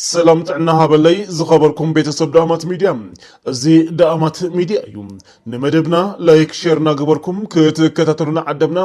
ሰላም ጥዕና ሃበለይ ዝኸበርኩም ቤተሰብ ዳእማት ሚድያ እዚ ዳእማት ሚድያ እዩ ንመደብና ላይክ ሼር እናገበርኩም ክትከታተሉና ዓደብና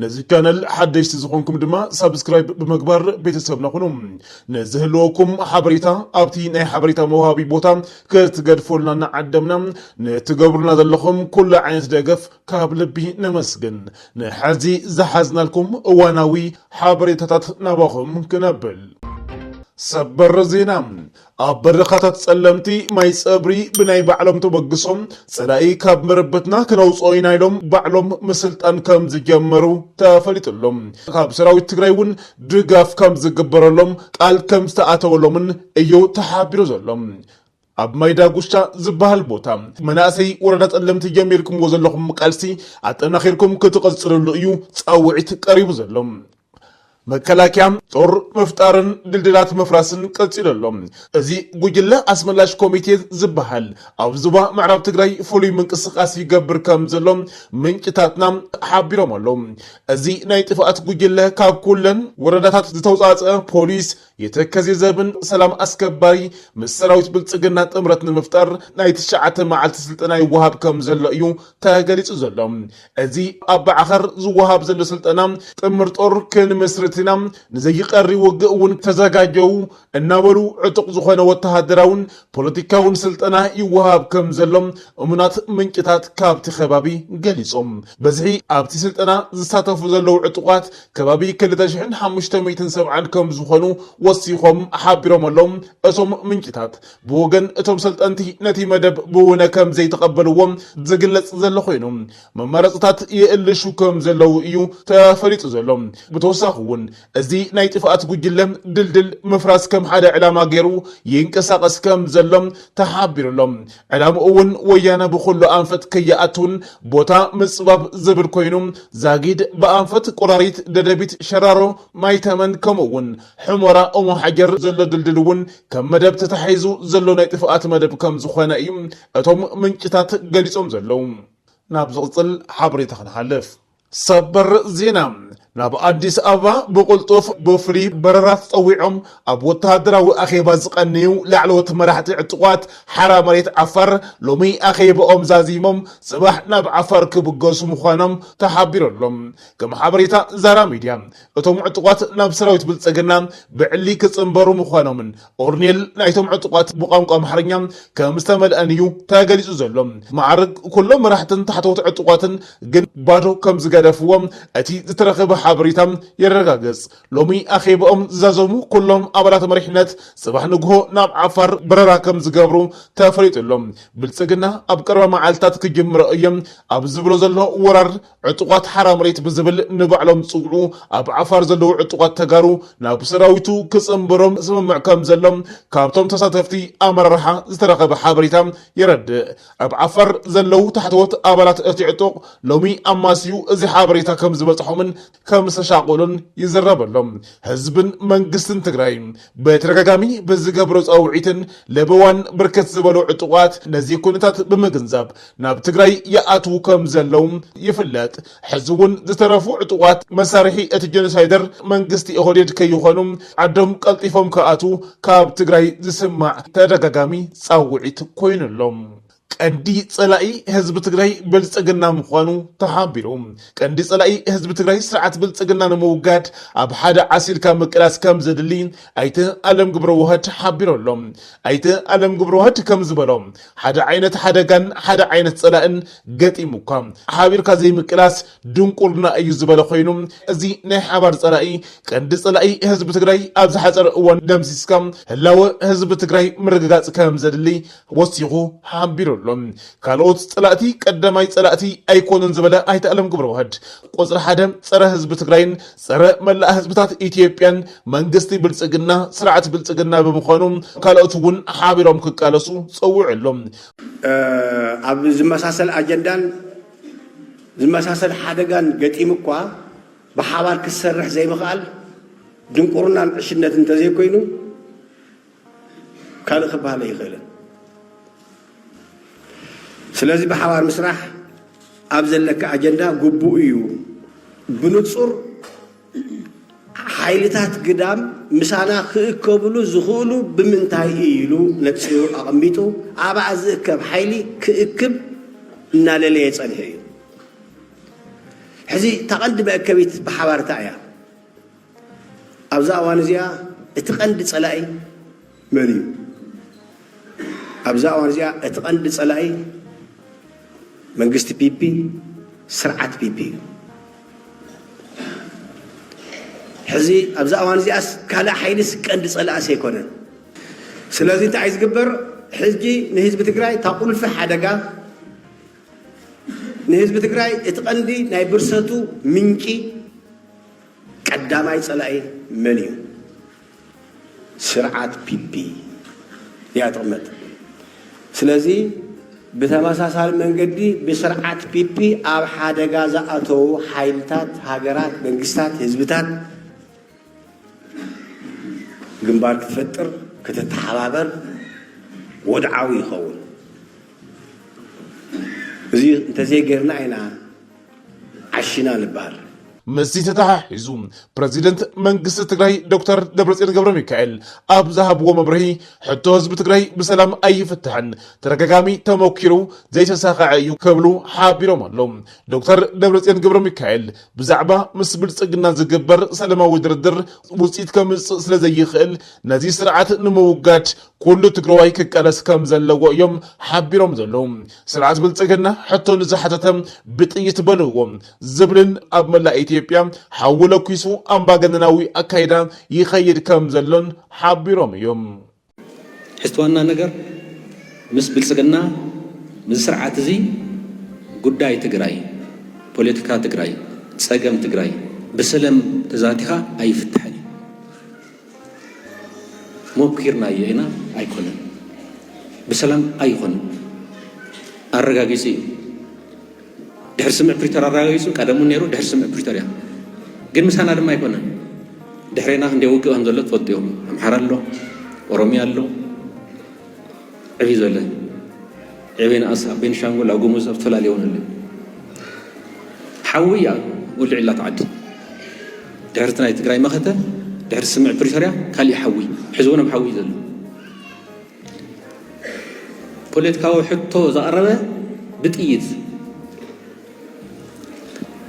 ነዚ ቻነል ሓደሽቲ ዝኾንኩም ድማ ሳብስክራይብ ብምግባር ቤተሰብና ኩኑ ንዝህልወኩም ሓበሬታ ኣብቲ ናይ ሓበሬታ መውሃቢ ቦታ ክትገድፈሉና እናዓደምና ንትገብሩና ዘለኹም ኩሉ ዓይነት ደገፍ ካብ ልቢ ነመስግን ንሐዚ ዝሓዝናልኩም እዋናዊ ሓበሬታታት ናባኹም ክነብል። ሰበር ዜና! ኣብ በረኻታት ጸለምቲ ማይ ጸብሪ ብናይ ባዕሎም ተበግሶ ጸላኢ ካብ መረበትና ክነውጽኦ ኢና ኢሎም ባዕሎም ምስልጣን ከም ዝጀመሩ ተፈሊጡ ኣሎ። ካብ ሰራዊት ትግራይ እውን ድጋፍ ከም ዝግበረሎም ቃል ከም ዝተኣተወሎምን እዩ ተሓቢሩ ዘሎ። ኣብ ማይ ዳጉሻ ዝበሃል ቦታ መናእሰይ ወረዳ ፀለምቲ ጀሚርኩምዎ ዘለኹም ቃልሲ ኣጠናኺርኩም ክትቕፅልሉ እዩ ፃውዒት ቀሪቡ ዘሎ። መከላከያ ጦር ምፍጣርን ድልድላት ምፍራስን ቀፂሉ ኣሎ። እዚ ጉጅለ ኣስመላሽ ኮሚቴ ዝበሃል ኣብ ዞባ ምዕራብ ትግራይ ፍሉይ ምንቅስቓስ ይገብር ከምዘሎ ምንጭታትና ሓቢሮም ኣለው። እዚ ናይ ጥፍኣት ጉጅለ ካብ ኩለን ወረዳታት ዝተውፃእፀ ፖሊስ፣ የተከዜ ዘብን ሰላም ኣስከባሪ ምስ ሰራዊት ብልፅግና ጥምረት ንምፍጣር ናይ ትሽዓተ መዓልቲ ስልጠና ይወሃብ ከም ዘሎ እዩ ተገሊፁ ዘሎ። እዚ ኣብ ባዕኸር ዝወሃብ ዘሎ ስልጠና ጥምር ጦር ክንምስርት ኢና፣ ንዘይቀሪ ውግእ እውን ተዘጋጀዉ እናበሉ ዕጡቕ ዝኾነ ወተሃደራውን ፖለቲካውን ስልጠና ይወሃብ ከም ዘሎ እሙናት ምንጭታት ካብቲ ከባቢ ገሊፆም። በዝሒ ኣብቲ ስልጠና ዝሳተፉ ዘለዉ ዕጡቓት ከባቢ ክልተ ሽሕን ሓሙሽተ ሚእትን ሰብዓን ከም ዝኾኑ ወሲኾም ሓቢሮም ኣለው። እቶም ምንጭታት ብወገን እቶም ሰልጠንቲ ነቲ መደብ ብውነ ከም ዘይተቐበልዎ ዝግለጽ ዘሎ ኮይኑ መማረጽታት ይእልሹ ከም ዘለው እዩ ተፈሊጡ ዘሎ። ብተወሳኺ እውን እዚ ናይ ጥፍኣት ጉጅለ ድልድል ምፍራስ ከም ሓደ ዕላማ ገይሩ ይንቀሳቐስ ከም ዘሎ ተሓቢሩ ኣሎ። ዕላምኡ እውን ወያነ ብኹሉ ኣንፈት ከይኣቱን ቦታ ምፅባብ ዝብል ኮይኑ ዛጊድ ብኣንፈት ቆራሪት፣ ደደቢት፣ ሸራሮ፣ ማይተመን ከምኡ እውን ሑመራ ኦሞሓጀር ዘሎ ድልድል እውን ከም መደብ ተታሒዙ ዘሎ ናይ ጥፍኣት መደብ ከም ዝኾነ እዩ እቶም ምንጭታት ገሊፆም ዘለዉ። ናብ ዝቕፅል ሓበሬታ ክንሓልፍ። ሰበር ዜና ናብ ኣዲስ ኣበባ ብቕልጡፍ ብፍሉይ በረራ ተፀዊዖም ኣብ ወተሃደራዊ ኣኼባ ዝቐነዩ ላዕለዎት መራሕቲ ዕጡቓት ሓራ መሬት ዓፋር ሎሚ ኣኼባኦም ዛዚሞም ፅባሕ ናብ ዓፋር ክብገሱ ምዃኖም ተሓቢሩ ኣሎ። ከም ሓበሬታ ዛራ ሚድያ እቶም ዕጡቓት ናብ ሰራዊት ብልፅግና ብዕሊ ክፅምበሩ ምዃኖምን ኦርኔል ናይቶም ዕጡቓት ብቋንቋ ኣምሓርኛ ከም ዝተመልኣን እዩ ተገሊጹ ዘሎ። መዓርግ ኩሎም መራሕትን ታሕተዎት ዕጡቓትን ግን ባዶ ከም ዝገደፍዎ እቲ ዝተረኽበ ሓበሬታ የረጋግጽ። ሎሚ ኣኼባኦም ዝዛዘሙ ኩሎም ኣባላት መሪሕነት ጽባሕ ንግሆ ናብ ዓፋር በረራ ከም ዝገብሩ ተፈሊጡ ኣሎ። ብልጽግና ኣብ ቀረባ መዓልታት ክጅምሮ እየ ኣብ ዝብሎ ዘሎ ወራር፣ ዕጡቓት ሓራ መሬት ብዝብል ንባዕሎም ዝፅውዑ ኣብ ዓፋር ዘለዉ ዕጡቓት ተጋሩ ናብ ሰራዊቱ ክፅምበሮም ስምምዕ ከምዘሎ ካብቶም ተሳተፍቲ ኣመራርሓ ዝተረኸበ ሓበሬታ የረድእ። ኣብ ዓፋር ዘለዉ ታሕተዎት ኣባላት እቲ ዕጡቕ ሎሚ ኣማስዩ እዚ ሓበሬታ ከምዝበፅሖምን ከምዝተሻቐሉን ይዝረበሎም። ህዝብን መንግስትን ትግራይ በተደጋጋሚ ብዝገብሮ ፃውዒትን ለበዋን ብርክት ዝበሉ ዕጡቓት ነዚ ኩነታት ብምግንዛብ ናብ ትግራይ ይኣትዉ ከም ዘለዉ ይፍለጥ። ሕዚ እውን ዝተረፉ ዕጡቓት መሳርሒ እቲ ጀኖሳይደር መንግስቲ ኦህዴድ ከይኾኑ ዓዶም ቀልጢፎም ክኣትዉ ካብ ትግራይ ዝስማዕ ተደጋጋሚ ፃውዒት ኮይኑ ኣሎ። ቀንዲ ፀላኢ ህዝቢ ትግራይ ብልፅግና ምዃኑ ተሓቢሩ። ቀንዲ ፀላኢ ህዝቢ ትግራይ ስርዓት ብልፅግና ንምውጋድ ኣብ ሓደ ዓሲልካ ምቅላስ ከምዘድሊ ኣይተ ኣለም ግብረዋህድ ሓቢሩ ኣሎ። ኣይተ ኣለም ግብረዋህድ ከምዝበሎ ሓደ ዓይነት ሓደጋን ሓደ ዓይነት ፀላእን ገጢሙኳ ሓቢርካ ዘይምቅላስ ድንቁርና እዩ ዝበለ ኮይኑ እዚ ናይ ሓባር ፀላኢ ቀንዲ ፀላኢ ህዝቢ ትግራይ ኣብ ዝሓፀረ እዋን ደምሲስካ ህላወ ህዝቢ ትግራይ ምርግጋፅ ከምዘድሊ ወሲኹ ሓቢሩ ኣሎ። ካልኦት ፀላእቲ ቀዳማይ ፀላእቲ ኣይኮኑን ዝበለ ኣይተ ኣለም ገብረዋህድ ቁፅሪ ሓደ ፀረ ህዝቢ ትግራይን ፀረ መላእ ህዝብታት ኢትዮጵያን መንግስቲ ብልፅግና ስርዓት ብልፅግና ብምዃኑ ካልኦት እውን ሓቢሮም ክቃለሱ ፀዊዑ ኣሎ። ኣብ ዝመሳሰል ኣጀንዳን ዝመሳሰል ሓደጋን ገጢሙኳ ብሓባር ክትሰርሕ ዘይምኽኣል ድንቁርናን ዕሽነትን እንተዘይኮይኑ፣ ካልእ ክበሃል ኣይኽእልን ስለዚ ብሓባር ምስራሕ ኣብ ዘለካ ኣጀንዳ ግቡእ እዩ ብንጹር ሓይልታት ግዳም ምሳና ክእከብሉ ዝኽእሉ ብምንታይ እዩ ኢሉ ነጺሩ ኣቐሚጡ ኣብኣ ዝእከብ ሓይሊ ክእክብ እናለለየ ጸንሐ እዩ ሕዚ ተቐንዲ መእከቢት ብሓባርታ እያ ኣብዛ እዋን እዚኣ እቲ ቀንዲ ጸላኢ መን እዩ? ኣብዛ እዋን እዚኣ እቲ ቀንዲ ጸላኢ መንግስቲ ፒፒ ስርዓት ፒፒ እዩ። ሕዚ ኣብዛ እዋን እዚኣስ ካልእ ሓይልስ ቀንዲ ጸላእስ ኣይኮነን። ስለዚ እንታይ ዝግበር ሕጂ ንህዝቢ ትግራይ እታ ቁልፊ ሓደጋ ንህዝቢ ትግራይ እቲ ቀንዲ ናይ ብርሰቱ ምንጪ ቀዳማይ ጸላኢ መን እዩ ስርዓት ፒፒ እያ ትቕመጥ ስለዚ ብተመሳሳሊ መንገዲ ብስርዓት ፒፒ ኣብ ሓደጋ ዝኣተዉ ሓይልታት ሃገራት መንግስታት ህዝብታት ግንባር ክትፈጥር ክትተሓባበር ወድዓዊ ይኸውን እዚ እንተዘይገርና ኢና ዓሺና ንበሃል። ምስዚ ተተሓሒዙ ፕረዚደንት መንግስቲ ትግራይ ዶክተር ደብረፅዮን ገብረሚካኤል ኣብ ዝሃብዎ መብርሂ ሕቶ ህዝቢ ትግራይ ብሰላም ኣይፍታሕን፣ ተደጋጋሚ ተሞኪሩ ዘይተሳኸዐ እዩ ክብሉ ሓቢሮም ኣለው። ዶክተር ደብረፅዮን ገብረሚካኤል ብዛዕባ ምስ ብልፅግና ዝግበር ሰላማዊ ድርድር ውፅኢት ከምፅእ ስለዘይኽእል ነዚ ስርዓት ንምውጋድ ኩሉ ትግራዋይ ክቃለስ ከም ዘለዎ እዮም ሓቢሮም ዘለዉ። ስርዓት ብልፅግና ሕቶ ንዝሓተተ ብጥይት በልዎ ዝብልን ኣብ መላእ ኢትዮጵያ ሓዊ ለኲሱ ኣምባገነናዊ ኣካይዳ ይኸይድ ከም ዘሎን ሓቢሮም እዮም። ሕዝቲ ዋና ነገር ምስ ብልፅግና ምስዚ ስርዓት እዚ ጉዳይ ትግራይ፣ ፖለቲካ ትግራይ፣ ፀገም ትግራይ ብሰለም ተዛቲኻ ኣይፍታሕን እዩ። ሞኪርናዮ ኢና ኣይኮነን ብሰላም ኣይኾነን ኣረጋጊጹ እዩ ድሕሪ ስምዕ ፕሪቶር ኣረጋጊጹ ቀደሙ ነይሩ ድሕሪ ስምዕ ፕሪቶር እያ ግን ምሳና ድማ ኣይኮነን ድሕሬና ክንደይ ውግእ ከም ዘሎ ትፈልጡ እዮም ኣምሓራ ኣሎ ኦሮሚያ ኣሎ ዕብይ ዘለ ዕብይ ንኣስ ኣብ ቤንሻንጉል ኣብ ጉሙዝ ኣብ ዝተፈላለዩ እውን ኣሎ ሓዊ እያ ወልዒላ ትዓዲ ድሕርቲ ናይ ትግራይ መኸተ ድሕሪ ስምዕ ፕሪቶርያ ካሊእ ሓዊ ሕዚ እውን ኣብ ሓዊ ዘሎ ፖለቲካዊ ሕቶ ዘቐረበ ብጥይት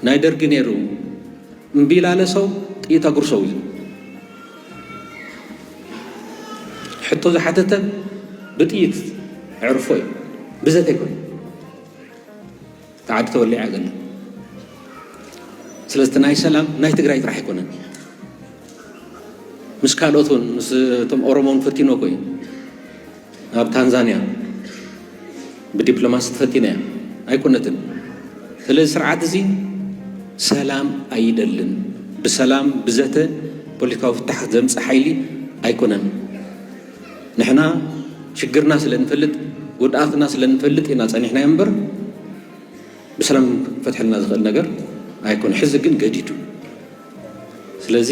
ናይ ደርጊ ነይሩ እምቢላለ ሰው ጥይት ኣጉርሰው እዩ ሕቶ ዝሓተተ ብጥይት ዕርፎ እዩ ብዘተ ይኮን ተዓዲ ተወሊዓ ገለ ስለዚ ናይ ሰላም ናይ ትግራይ ጥራሕ ኣይኮነን ምስ ካልኦት እውን ምስቶም ኦሮሞን ፈቲኖ ኮዩ ናብ ታንዛንያ ብዲፕሎማሲ ተፈቲና እያ ኣይኮነትን። ስለዚ ስርዓት እዚ ሰላም ኣይደልን። ብሰላም ብዘተ ፖለቲካዊ ፍታሕ ዘምፅእ ሓይሊ ኣይኮነን። ንሕና ሽግርና ስለ ንፈልጥ ጉድኣትና ስለ ንፈልጥ ኢና ፀኒሕናዮ እምበር ብሰላም ክፈትሐልና ዝኽእል ነገር ኣይኮነ ሕዚ ግን ገዲዱ ስለዚ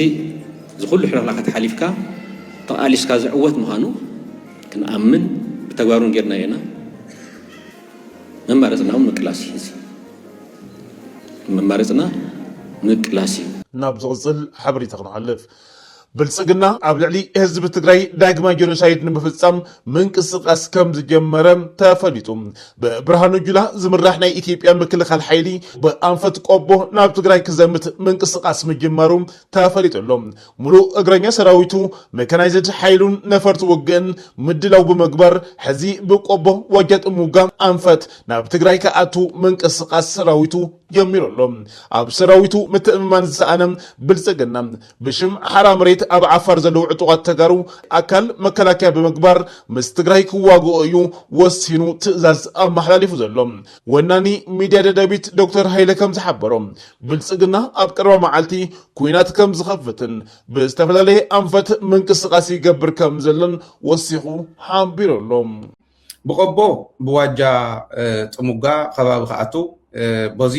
እዚ ኩሉ ሕልኽላኻት ሓሊፍካ ተቓሊስካ ዝዕወት ምዃኑ ክንኣምን ብተግባሩን ጌርና ኢና መማረፅና እውን ምቅላስ እዩ እዚ መማረፅና ምቅላስ እዩ። ናብ ዝቕፅል ሓበሬታ ክንሓልፍ። ብልፅግና ኣብ ልዕሊ ህዝቢ ትግራይ ዳግማይ ጀኖሳይድ ንምፍፃም ምንቅስቓስ ከምዝጀመረ ተፈሊጡ። ብብርሃኑ ጁላ ዝምራሕ ናይ ኢትዮጵያ ምክልኻል ሓይሊ ብኣንፈት ቆቦ ናብ ትግራይ ክዘምት ምንቅስቓስ ምጅማሩ ተፈሊጡ ኣሎ። ሙሉእ እግረኛ ሰራዊቱ፣ መካናይዝድ ሓይሉን ነፈርቲ ውግእን ምድላው ብምግባር ሕዚ ብቆቦ ዋጃ ጥሙጋ ኣንፈት ናብ ትግራይ ክኣቱ ምንቅስቓስ ሰራዊቱ ጀሚሩ ኣሎ። ኣብ ሰራዊቱ ምትእምማን ዝሰኣነ ብልፅግና ብሽም ሓራ መሬት ኣብ ዓፋር ዘለዉ ዕጡቓት ተጋሩ ኣካል መከላከያ ብምግባር ምስ ትግራይ ክዋግኦ እዩ ወሲኑ ትእዛዝ ኣመሓላሊፉ ዘሎ። ወናኒ ሚድያ ደደቢት ዶክተር ሃይለ ከምዝሓበሮ ብልፅግና ኣብ ቀረባ መዓልቲ ኲናት ከምዝኸፍትን ብዝተፈላለየ ኣንፈት ምንቅስቓስ ይገብር ከምዘሎን ወሲኹ ሓቢሩ ኣሎ። ብቆቦ ብዋጃ ጥሙጋ ከባቢ ክኣቱ በዚ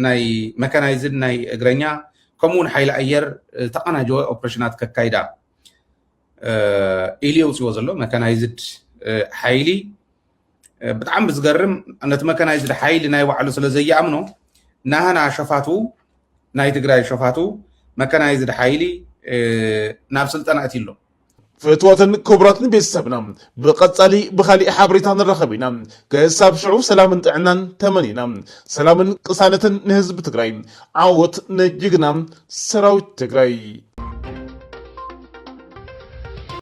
ናይ መካናይዝድ ናይ እግረኛ ከምኡ ውን ሓይሊ ኣየር ተቀናጀወ ኦፕሬሽናት ከካይዳ ኢሉ የውፅዎ ዘሎ መካናይዝድ ሓይሊ ብጣዕሚ ዝገርም ነቲ መካናይዝድ ሓይሊ ናይ ባዕሉ ስለ ዘየኣምኖ ናህና ሸፋቱ ናይ ትግራይ ሸፋቱ መካናይዝድ ሓይሊ ናብ ስልጠና እቲ ኣሎ ፍትወትን ክብረት ንቤተሰብና ብቀጻሊ ብካሊእ ሓበሬታ ንራኸብ ኢና ክሳብ ሽዑ ሰላምን ጥዕናን ተመኒና ሰላምን ቅሳነትን ንህዝቢ ትግራይ ዓወት ንጅግና ሰራዊት ትግራይ።